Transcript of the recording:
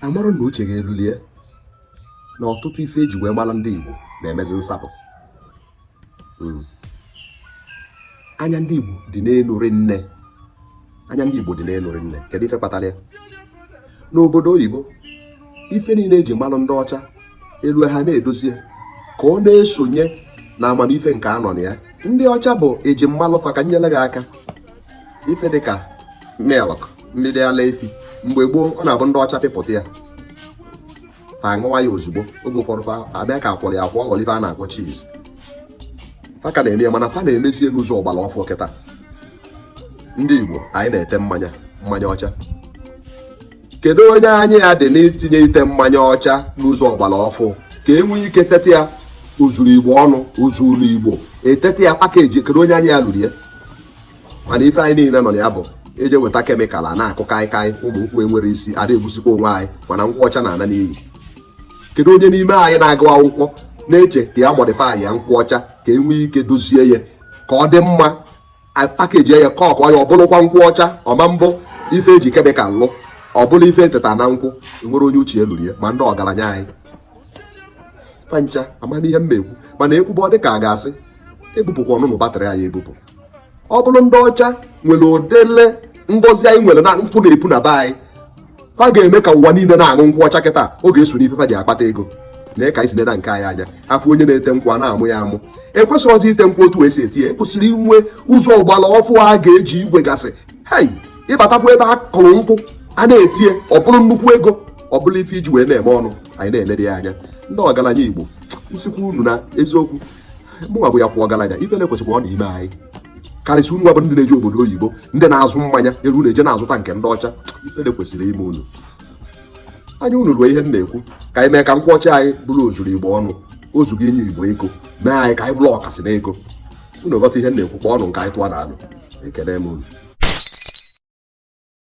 amara na uche ga-elulie na ọtụtụ ife eji wee mara ndị Igbo na-emezi nsapụ hmm. anya ndị Igbo dị n'elu nni anya ndị Igbo dị n'elu nni kedu ife kpatara ya n'obodo oyibo ife niile eji malụ ndị ọcha elu ha na-edozie ka ọ na-esonye na amamife nke anọ na ya ndị ọcha bụ eji malụ fa ka m nyere gị aka ife dịka milk mmiri ala efi mgbe gboo ọ na-abụ ndị ọcha pịpụta ya fa aṅụwa ya ozugbo oge ụfọdụ fa abịa ka akwọrọ ya akwọ ọ bụlụ ife a na-akpọ cheese fa ka na-eme ya mana fa na-emezie n'ụzọ ọgbara ọfụ kịta ndị Igbo anyị na-ete mmanya mmanya ọcha kedu onye anya ya dị n'itinye ite mmanya ọcha n'ụzọ ọgbara ọfụ ka e nwee ike teta ya ozuru igbo ọnụ ozuru igbo eteta ya package kedu onye anya ya luru ya mana ife anyị niile nọ na ya bụ eje weta chemical a na-akụ kaịkaị ụmụ nkwụ enwerọ isi ada egbusikwa onwe anyị mana nkwụ ọcha na-ana n'iyi kedu onye n'ime anyị na-agụ akwụkwọ na-eche ka ya modify ya nkwụ ọcha ka e nwee ike dozie ya ka ọ dị mma package ya ka ọkọ ya ọ bụlụkwa nkwụ ọcha ọ ma-abụ ife eji chemical lụ ọ bụlụ ife eteta na nkwụ nwere onye uche eluru ya ma ndị ọgaranya anyị fa ncha amana ihe m na-ekwu mana ekwube ọ dị ka a ga-asị ebupụkwa ọnụnụ batrị anyị ebupụ ọ bụrụ ndị ọcha nwere ụdịlị ngozi anyị nwere na nkwụ na-epu na be anyị fa ga-eme ka ụwa niile na-aṅụ nkwụ ọcha kịta ọ ga-eso n'ife fa ji akpata ego nee ka anyị si neda nke anyị anya afụ onye na-ete nkwụ a na-amụ ya amụ ekwesịrị ọzọ ite nkwụ otu esi ete ya ekwesịrị inwe ụzọ ọgbara ọfụ a ga-eji igwe gasị hei ịbatakwu ebe a kụrụ nkwụ a na-etinye ọ bụrụ nnukwu ego ọ bụrụ ife eji wee na-eme ọnụ anyị na-eneda ya anya ndị ọgaranya igbo nsikwa unu na eziokwu mụnwa bụ ya kwụ ọgaranya ifele kwesịkwanụ ime anyị karịsịa unu bụ ndị na-eje obodo oyibo ndị na-azụ mmanya unu na-eje na-azụta nke ndị ọcha ifele kwesịrị ime unu anya unu ruo ihe m na-ekwu ka anyị mee ka nkwụ ọcha anyị bụrụ ozuru igbo ọnụ ozugo inye igbo ego mee anyị ka anyị bụrụ ọkasị na ego unu ghọta ihe m na-ekwu kpọọ ọnụ nke anyị tụwa na alụ ekele m unu